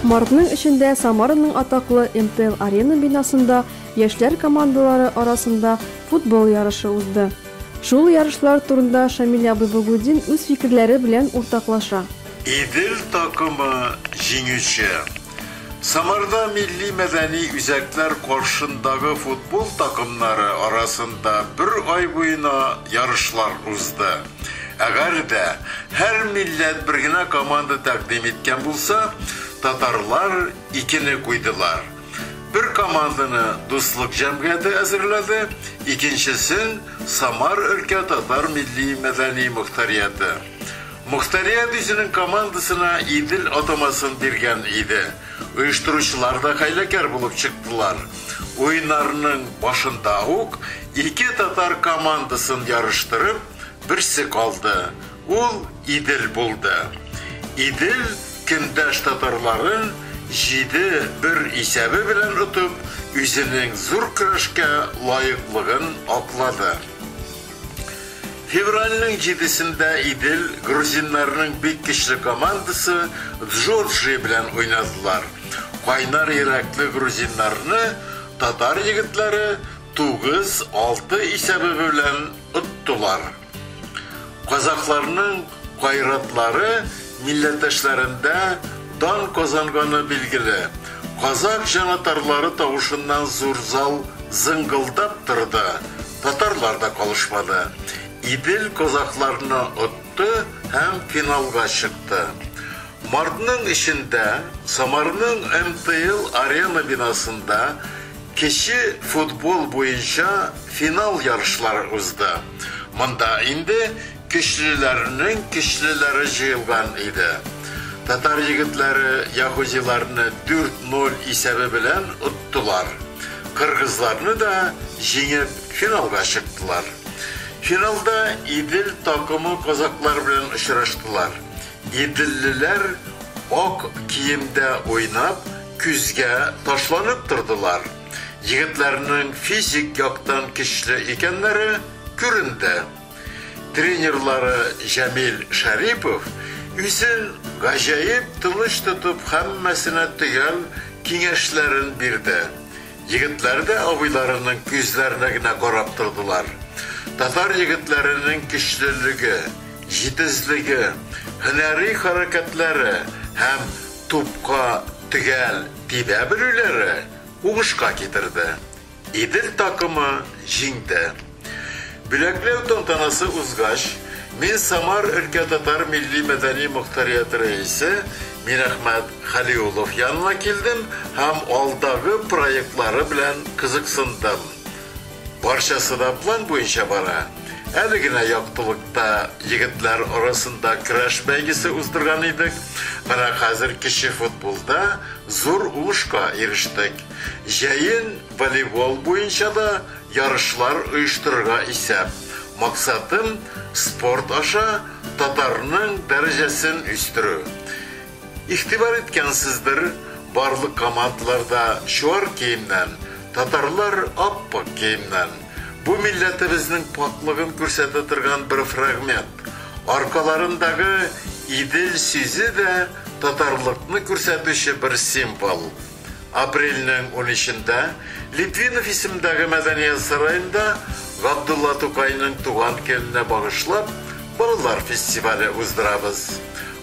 Мартның эчендә Самараның атаклы МТЛ Арена бинасында яшьләр командалары арасында футбол ярышы узды. Шул ярышлар турында Шамил абый Богудин үз фикерләре белән уртаклаша. Идел такымы җиңүче. Самарда милли-мәдәни үзәкләр каршындагы футбол такымнары арасында бер ай буена ярышлар узды. Әгәр дә һәр милләт бер генә команда тәкъдим иткән булса, татарлар икене куйдылар. Бер команданы Дуслык җәмгыяте әзерләде, икенчесен, Самар өлкә татар милли-мәдәни мохтарияте. Мохтари әбисенең командасына Идел атамасын биргән иде. Оештыручылар да хәйләкәр булып чыктылар. Уеннарның башында ук ике татар командасын ярыштырып, берсе калды. Ул Идел булды. Идел көндәш татарларын җиде, бер исәбе белән отып, үзенең зур көрәшкә лаеклыгын аклады. Февральнең җидесендә Идел грузиннарының бик көчле командасы Джорджия белән уйнадылар. Кайнар йөрәкле грузиннарны татар егетләре тугыз, алты исәбе белән оттылар. Казакъларның Гайратлары милләттәшләрендә дан казанганы билгеле. Казак җанатарлары тавышыннан зур зал зыңгылдап торды. Татарлар да калышмады. Идел казакларны отты һәм финалга чыкты. Мартның өчендә Самарның МТЛ Арена бинасында кече футбол буенча финал ярышлары узды. Монда инде Көчлеләрнең көчлеләре җыелган иде. Татар егетләре яһүдиларны дүрт ноль исәбе белән оттылар. Кыргызларны да җиңеп, финалга чыктылар. Финалда Идел такымы казаклар белән очраштылар. Иделлеләр ак киемдә уйнап, көзгә ташланып тордылар. Егетләрнең физик яктан көчле икәннәре күренде. Тренерлары Җәмил Шәрипов үзен гаҗәеп тыныч тотып, һәммәсенә төгәл киңәшләрен бирде. Егетләр дә абыйларының күзләренә генә карап тордылар. Татар егетләренең көчлелеге, җитезлеге, һөнәри хәрәкәтләре һәм тупка төгәл тибә белүләре уңышка китерде. Идел такымы җиңде. Бүләкләү тантанасы узгач, мин Самар өлкә татар милли-мәдәни мохтарияте рәисе Мирәхмәт Хәлиуллов янына килдем һәм алдагы проектлары белән кызыксындым. Барчасы да план буенча бара. Әле генә яктылыкта егетләр арасында көрәш бәйгесе уздырган идек, менә хәзер кече футболда зур уңышка ирештек. Җәен волейбол буенча да ярышлар оештырырга исәп. Максатым, спорт аша татарның дәрәҗәсен үстерү. Игътибар иткәнсездер, барлык командаларда чуар киемнән, татарлар ап-пак киемнән. Бу милләтебезнең пакьлыгын күрсәтә торган бер фрагмент. Аркаларындагы Идел сүзе дә татарлыкны күрсәтүче бер символ. Апрельнең унөчендә Литвинов исемендәге мәдәният сараенда Габдулла Тукайның туган көненә багышлап балалар фестивале уздырабыз.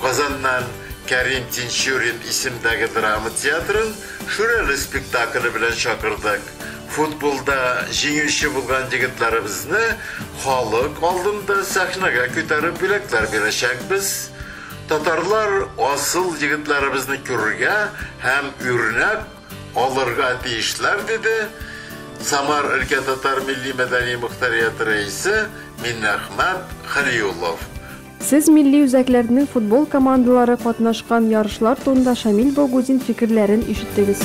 Казаннан Кәрим Тинчурин исемендәге драма театрын Шүрәле спектакле белән чакырдык. Футболда җиңүче булган егетләребезне халык алдында сәхнәгә күтәреп бүләкләр бирәчәкбез. Татарлар асыл егетләребезне күрергә һәм үрнәк алырга тиешләр, диде Самар өлкә татар милли-мәдәни мохтарияте рәисе Миннәхмәт Хәлиуллов. Сез милли үзәкләрнең футбол командалары катнашкан ярышлар турында Шамил Богудин фикерләрен ишеттегез.